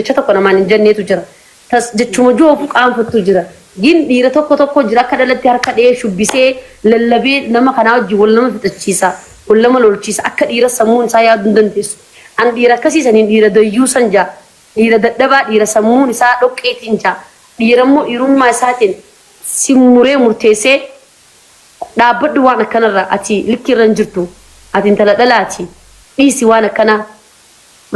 jecha tokko namaan hin jenneetu jira. Tas jechuma joogu qaanfattu jira. Gin dhiira tokko tokko jira akka dhalatti harka dhihee shubbisee lallabee nama kanaa wajjin wal nama fixachiisa, wal nama lolchiisa. Akka dhiiras sammuun isaa yaaduu hin dandeessu. An dhiira akkasii saniin dhiira dayyuusan ja'a. Dhiira dadhabaa, dhiira sammuun isaa dhoqqeetiin ja'a. Dhiira immoo dhiirummaa isaatiin si muree murteessee dhaabbadhu waan akkanarraa ati likki irra hin jirtu. Ati intala dhalaati. Dhiisi waan akkanaa.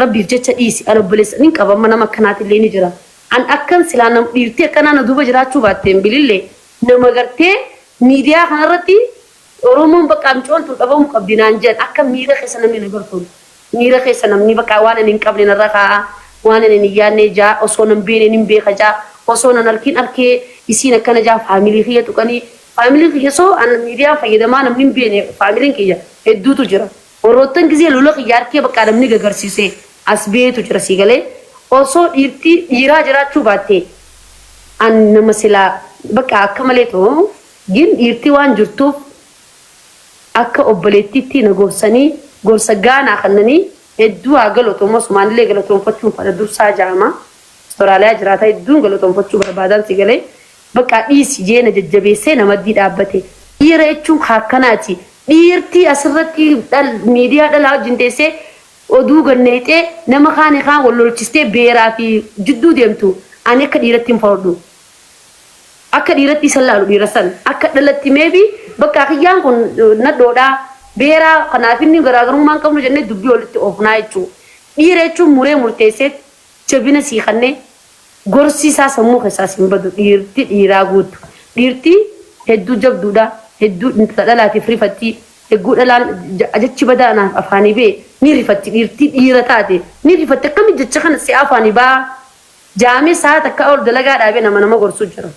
Rabbiif jecha dhiisi an obboleessa nin qaba amma nama akkanaatillee ni jira an akkan silaa nam dhiirtii akkanaa na duuba jiraachuu baatteen bilillee nama gartee miidiyaa kanarratti oromoon baqaa miciyoon tun dhabamu qabdi naan jean akka miira keessa namni na bar kun miira keessa namni baqaa waan ani hin qabne narra kaa'a waan ani hin yaadne jaa osoo nan beene nin beeka jaa osoo nan arkin arkee isiin akkana jaa faamilii kiyya tuqanii faamiliin kiyya soo an miidiyaan fayyadamaa namni hin beene faamiliin kiyya hedduutu jira Warroottan gizee lola kiyya arkee baqqaa namni gagarsise as beetu jira sii galee osoo dhiirtii dhiiraa jiraachuu baattee an nama silaa baqqaa akka malee too gin dhiirtii waan jirtuuf akka obboleettiittii na gorsanii gorsa gaa naa kannanii hedduu haa galotomu asumaanillee galatoomfachuun fadha dursaa jaama Australia jiraata hedduun galatoomfachuu barbaadaan sii galee Baqaa dhiisi jee na jajjabeessee na maddii dhaabbate. Dhiira jechuun ka akkanaati. Dhiirtii asirratti miidiyaa dhalaa wajjin teessee oduu gad nayxee nama kaani kaan wal lolchistee beeraa fi jidduu deemtu ani akka dhiiratti hin fardhu. Akka dhiiratti isa hin laalu dhiira san. Akka dhalatti maybe baqaa kiyyaan kun nadhoodha, beeraa kanaaf inni garaagarummaa hin qabnu jennee dubbii walitti oofnaa jechuu. Dhiira jechuun muree murteessee jabina sii kannee gorsi isaa sammuu keessaa sin badu dhiirti dhiiraa guuttu dhiirti hedduu jabduudha hedduu intala dhalaatiif rifatti hegguu dhalaan jechi badaa naaf afaanii ba'e ni rifatti dhiirti dhiira taate ni rifatti akkami jecha kana si afaanii ba'aa jaamee sa'a takkaa ol dalagaa dhaabee nama nama gorsuu jira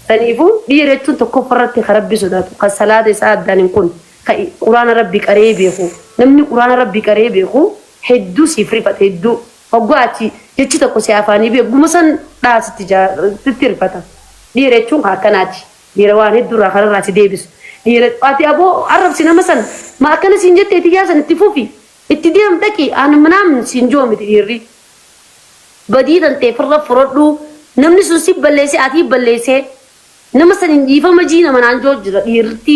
Saniifuu dhiira jechuun tokkoffaa irratti ka Rabbi sodaatu, ka salaata isaa addaan hin kunne, ka Quraana Rabbii qara'ee beeku. Namni Quraana Rabbii qara'ee beeku hedduu siif rifata, hedduu. Hoggaa ati jechi tokko si afaanii bahe egguma san dhaha sitti ja, sitti rifata. Dhiira jechuun ka akkanaati. Dhiira waan hedduu irraa kararraa si deebisu. Dhiira, ati aboo arrabsi nama san, ma akkana siin jettee tiyyaa san itti fufi, itti deem dhaqi, an manaam siin je'u miti dhiirri. Badii tantee firra furadhu namni sun si balleesse atii balleesse nama sanin dhiifama jii nama naan joo jira dhiirti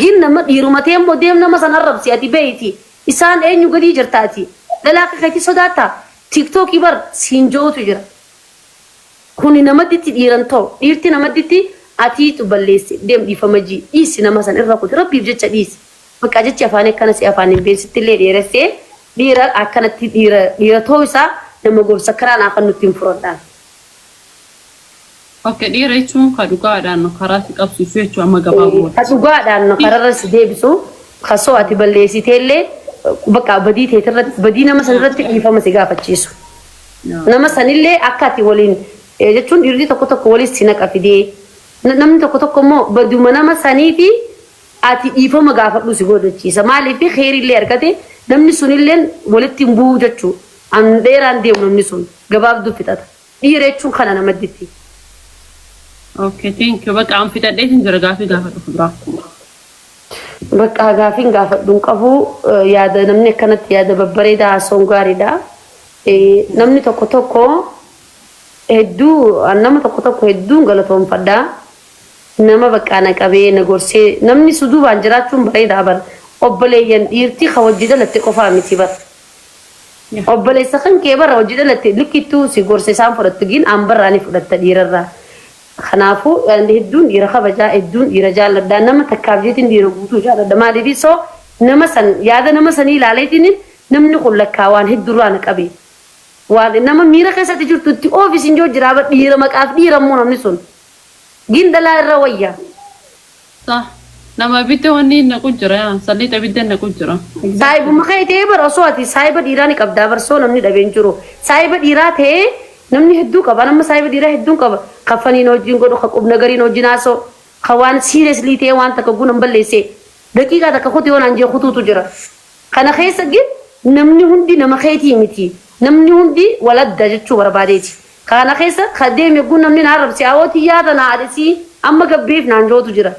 gin nama dhiiruma teemmo deem nama san arrabsi ati beeyti isaan eenyu gadii jirta ati dhala akka keetii sodaatta tiktoki bar siin joowutu jira kuni namadditti dhiiran too dhiirti namadditti atiitu balleesse deem dhiifama jii dhiisi nama san irra kuti rabbiif jecha dhiisi Baqqaa jechi afaanii akkana si afaaniin been sittillee dheeressee dhiira akkanatti dhiira dhiira ta'uu isaa nama gorsa karaa naa kan nuttiin furadhaan. Ok dhiira jechuun ka dhugaadhaan no karaa si qabsiisu jechuu amma Ee, ka gabaabumatti. dhugaadhaan no kararra si deebisu ka soo ati balleessiteellee baqqaa badii teeti irratti badii nama san irratti dhiifama si gaafachiisu. Yaa. nama sanillee akka ati waliin eh, jechuun dhiirri tokko tokko waliin si naqa fidee na- namni tokko tokko immoo baduma nama saniiti Ati dhiifama gaafadhuu si goodachiisa maaliif keeriillee argate namni sunilleen walitti hin bu'uu jechuu an dheeraan deemu namni sun gabaabduu fixata dhiira jechuun kana nama ditti. Okay, thank you. Bakka an fixadhee sin jira gaafii gaafadhu fuduraa. Bakka gaafiin gaafadhu hin qabu eh, yaada namni akkanatti yaada babbareedaa haasa'uun gaariidha. Eh, Namni tokko tokko hedduu an nama tokko tokko hedduun galatoomfadha. Nama baqqaa na qabee na gorsee namni su duubaan jiraachuun bareedaa bar obboleeyyan dhiirtii ka wajji dhalatte qofaa miti bar obboleessa kan kee bar wajji dhalatte likkittuu si gorsa isaan fudhattu gin anbarraa ni fudhatta dhiirarraa kanaafu an hedduun dhiira kabajaa hedduun dhiira jaalladha nama takkaaf jeetiin dhiira guutuu jaalladha maaliif so nama san yaada nama sanii ilaaleetiin namni kun lakkaa waan heddurraa na qabe waan nama miira keessatti jirtu itti oofi sin joo jiraa bar dhiira maqaaf dhiira immoo namni sun Gin dhalaa irra wayya. Sah nama ibidda wanni hin naqu jira yaa salliixa ibidda hin naqu jira. Saahibuma kee ta'ee bar osoo ati saahiba dhiiraa ni qabdaa bar soo namni dhabee hin jiru. Saahiba dhiiraa ta'ee namni hedduu qaba an amma saahiba dhiiraa hedduun qaba ka fanii na wajjin godhu ka qub nagariin wajjin haasa'u ka waan seriously ta'ee waan takka oguu nan balleesse daqiiqaa takka kuti yoo naan jee kutuutu jira. Kana keessa gin namni hundi nama keetii miti namni hundi wal adda jechuu barbaadeeti. Kaana keessa ka deeme yogguu namni na arrabse, Awoo tiyyaa tana haa dhisii, amma gabbiif naan ja'utu jira.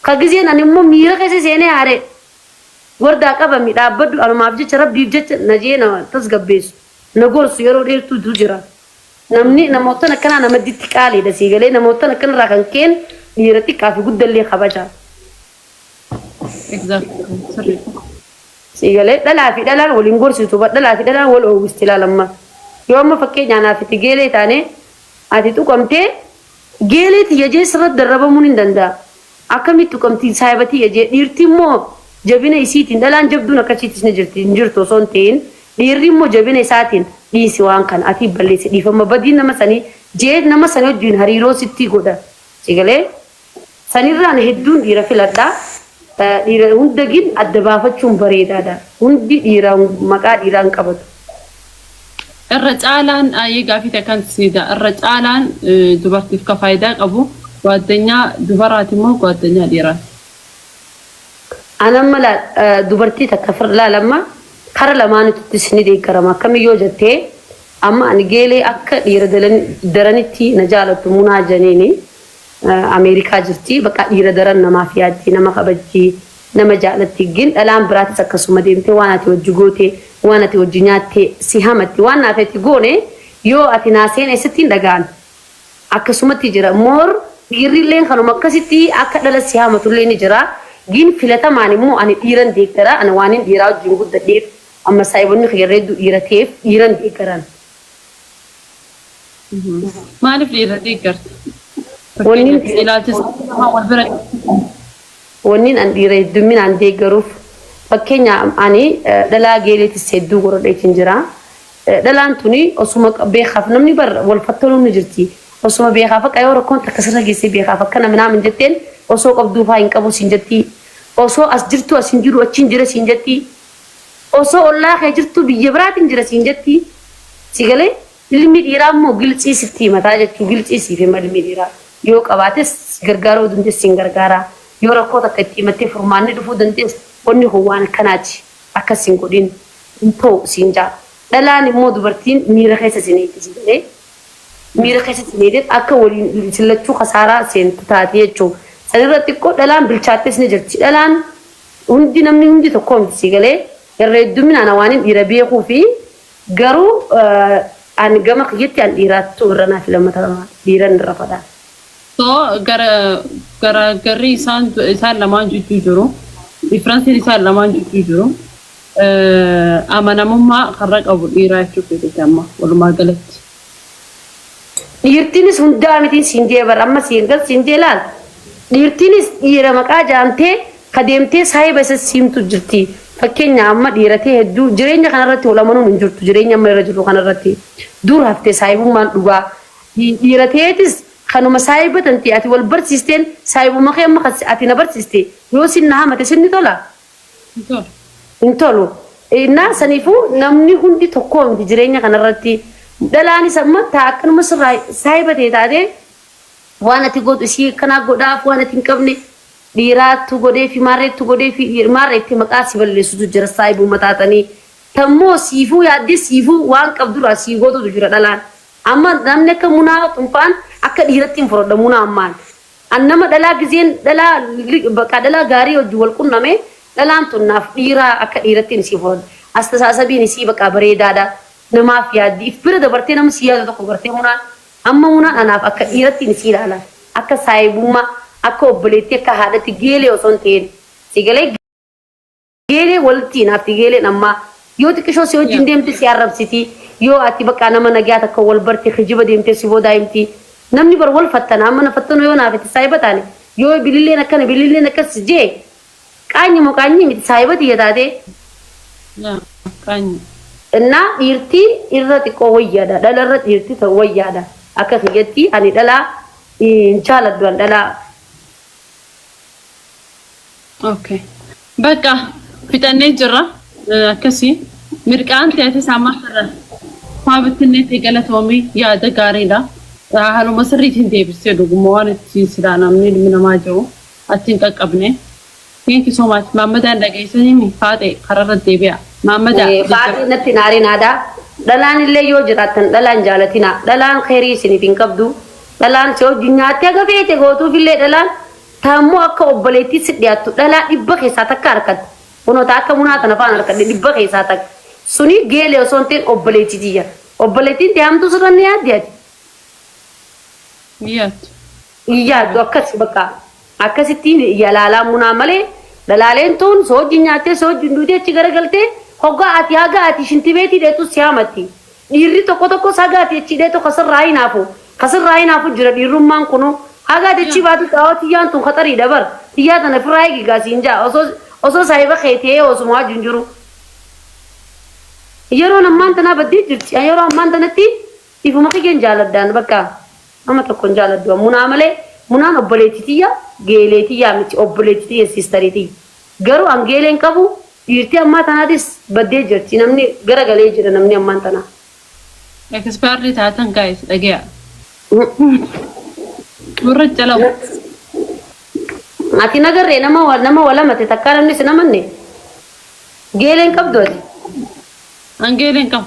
Ka gizeen ani immoo miira keessa seenee aaree, Wardaa qabami, dhaabbadhu, anumaaf jecha, Rabbiif jecha na je'ee na tasgabbeessu, na gorsu yeroo dheertuutu jira. Namni namoottan akkanaa namadditti qaaliidha, sii galee? Namoottan akkanarraa kan keen dhiira xiqqaa fi guddallee kabaja. Exactly. Sirriidha. Sii galee dhalaa fi dhalaan wal hin gorsitu bar dhalaa fi dhalaan wal oowwisti ilaal amma. Yoo amma fakkeenyaa naaf itti geelee taanee ati tuqamtee geelee tiyya jee sirratti darrabamuun hin danda'a. Akkamitti tuqamti saahiba tiyya jee dhiirti immoo jabina isiitiin dhalaan jabduun akka ishiitis ni jirti hin jirtu osoo hin ta'in dhiirri immoo jabina isaatiin dhiisi waan kana ati balleessi dhiifama badii nama sanii jee nama sanii wajjin hariiroo sittii godha. Sii galee Sanirra ani hedduun dhiira filadha. Dhiira hunda gin adda baafachuun bareedaadha. Hundi dhiira maqaa dhiiraa hin qabatu. Irra caalaan aayii gaafii ta'e kan siida irra caalaan dubartiif ka faayidaa qabu gwaaddanyaa dubaraati moo gwaaddanyaa dhiiraati? An amma laal dubartii takka fir laal amma kara lamaanituttis ni deeggarama akkamii yoo jattee amma ani geelee akka dhiira daranitti na jaalattu munaa janiini Ameerikaa jirti baqaa dhiira daran namaaf yaaddi nama kabajji nama jaalatti gin dhalaan biraatis akkasuma deemtee waan ati wajji goote waan ati wajji nyaatte si hamatti waan naaf ati goone yoo ati naa seene sitti hin dhaga'an akkasumatti jira more dhiirri illeen kanuma akkasitti akka dhala si hamatu illee ni jira gin filatamaan immoo ani dhiiran deeggara ani waanin dhiiraa wajjin guddadheef amma saahibonni kiyya irra hedduu dhiira ta'eef dhiiran deeggaran. Maaliif dhiirra deeggarta? Wanniin Fakkeenyaaf ilaalcha isaa wal bira wanniin an dhiira heddumminaan deeggaruuf fakkeenya ani eh, dhalaa geeleetis hedduu gorodheetiin jira. Eh, Dhalaan tuni osuma qa- beekaaf namni bar wal fattoluun ni jirti. Osuma beekaaf akka yoo rakkoon takka sirra geessee beekaaf akkana minaa min jetteen osoo qabduu faa hin qabu siin jetti. Osoo as jirtu as hin jiru achi hin jira siin jetti. Osoo ollaa kee jirtuu biyya biraatin jira siin jettii si galee ilmi dhiiraa immoo giltsii sitti himataa jechuu giltsii siif hima ilmi dhiiraa yoo qabaates si gargaaruu dandees siin gargaaraa yoo rakkoo takka itti himattee furmaanni dhufuu dandees wanni kun waan akkanaati akkas hin godhin hin ta'u siin jaa dhalaan immoo dubartiin miira keessa sin eegdi si galee miira keessa sin eegdet akka waliin isin lachuu kasaaraa seentu taati jechuu sanirra xiqqoo dhalaan bilchaattees ni jirti dhalaan Hundi namni hundi tokkoo miti sii galee irra heddumin ana waanin dhiira beekuu fi garuu an gama kiyyatti an dhiiraattu irra naa filamata dhiiran irra fadha. So garaagarri isaan isaan lamaan jidduu jiru difference'n isaan lamaan jidduu jiru amanamummaa karra qabu dhiiraa jechuu keetiti amma walumaa galatti. Dhiirtiinis hundaa mitiin siin jee bar amma siin gal siin jee laal dhiirtiinis dhiira maqaa jaamtee ka deemtee saahiba isa siimtu jirti fakkenya amma dhiiratii hedduu jireenya kana irratti wal amanuun hin jirtu jireenya amma irra jirru kana irratti dur hafte saahibummaan dhugaa dhiira teetis kanuma saahiba tantee ati wal barsiisteen saahibuma kee amma kan ati na barsiiste yoo sin na hamate sin ni tola hin tolu. hin tolu. Innaa saniifuu namni hundi tokkoo miti jireenya kanarratti. Dhalaanis amma taa akkanuma sirraa saahiba tee taatee waan ati gootu isii akkanaa godhaaf waan ati hin qabne dhiiraattu godheefi maarreettu godheefi maarra itti maqaa si balleessutu jira saahibumma taatanii. Tammoo siifuu yaaddee siifuu waan qabdurraa sii gootutu jira dhalaan. Amma namni akka munaa xunfaan akka dhiiratti hin fudhadha munaa ammaan. An nama dhalaa gizeen dhalaa baqaa dhalaa gaarii wajjin wal qunname dhalaan tun naaf dhiiraa akka dhiirattiin isii fudhadhe. Astasaasabiin isii baqaa bareedaadha. Namaaf yaaddi. If bira dabartee nama sii yaadu tokko gartee munaan. Amma munaan anaaf akka dhiirattiin isii ilaala. Akka saahibummaa, akka obboleettii, akka haadhatti geelee osoo hin ta'iin. Sii galee? Geelee walitti hinaafti geeleen ammaa yoo xiqishoo si wajjin deemte si arrabsiti yoo ati baqaa nama nagyaa takka wal barte kijiba deemte si boodaa himti namni bar wal fattana amma na fattano yoo naa fete saahiba taane yoo bililleen akkana bililleen akkas si jee qaanyi moo qaanyii miti saahiba tiyya taate Qaanyi. innaa dhiirti irra xiqqoo wayyaadha dhala irra dhiirti ta- wayyaadha akka kiyyatti ani dhalaa hin jaaladhu an dhalaa Okay. Bakka fixannee jirra. Eh, Akkasii mirqaan teetis amma irra faa bittinnee ta'e galatoomii yaada gaariidha. Eh, Haaluma sirriitiin deebistee dhuguma waan itti silaa namni ilmi namaa jiru achi hin qaqqabne. Thank you so much. Maammadaan dhageessanii faaxee kararra deebi'a. Maammadaa Eh, jajjabaa. Faaxii natti naaree naadaa. Dhalaan illee yoo jiraattan dhalaan jaalatina. Dhalaan keerii isiniif hin qabdu. Dhalaan si hojju nyaattee gafeete gootuuf illee dhalaan Ta ammoo akka obboleettii sit dhiyaattu dhalaa dhibba keessaa takka harkatte. Kunoo ta akka Munaa tana fa'aan harkadhe dhibba keessaa takka. Suni geelee osoo hin ta'in obboleettii tiyya. Obboleettiin tee hamtuu sirra ni yaaddi ati? Hin yaaddu. Hin yaaddu akkas bakka. Akkasitti yalaalaa Munaa malee dhalaaleen tuun si wajjin nyaattee si wajjin duutee achi garagaltee hoggaa ati haga ati shintibeetii dheexxus si hamatti. Dhiirri tokko tokkos haga ati echii dheetu ka sirraa hinaafu, ka sirraa hinaafu jira dhiirrummaan kunuu. Haga ati echii baatu xaa'oo tiyyaan tun khaxariidha bar, tiyyaa tana firraa eegi gaa siin ja'a osoo, osoo saahiba khee te'ee osuma waajju hin jiruu. Yeroon ammaan tanaa baddee jirti. An yeroo ammaan tanatti ifuma kiyyaan jaaladhaan bakka nama tokko hin jaaladhu an munaa malee, munaan obboleetti tiyya, geelee tiyyaa miti, obboleetti tiyya, sisterii tiyya. Garuu an geelee hin qabu dhiirtii ammaa tanaatis baddee jirti namni gara galee jira namni ammaan tanaa. Expired taatan guys dhageeya. Warra calawu. Ati nagarree nama wa- nama walamate takkaa namni sin amanne geelee hin qabdu ati. An geelee hin qabu.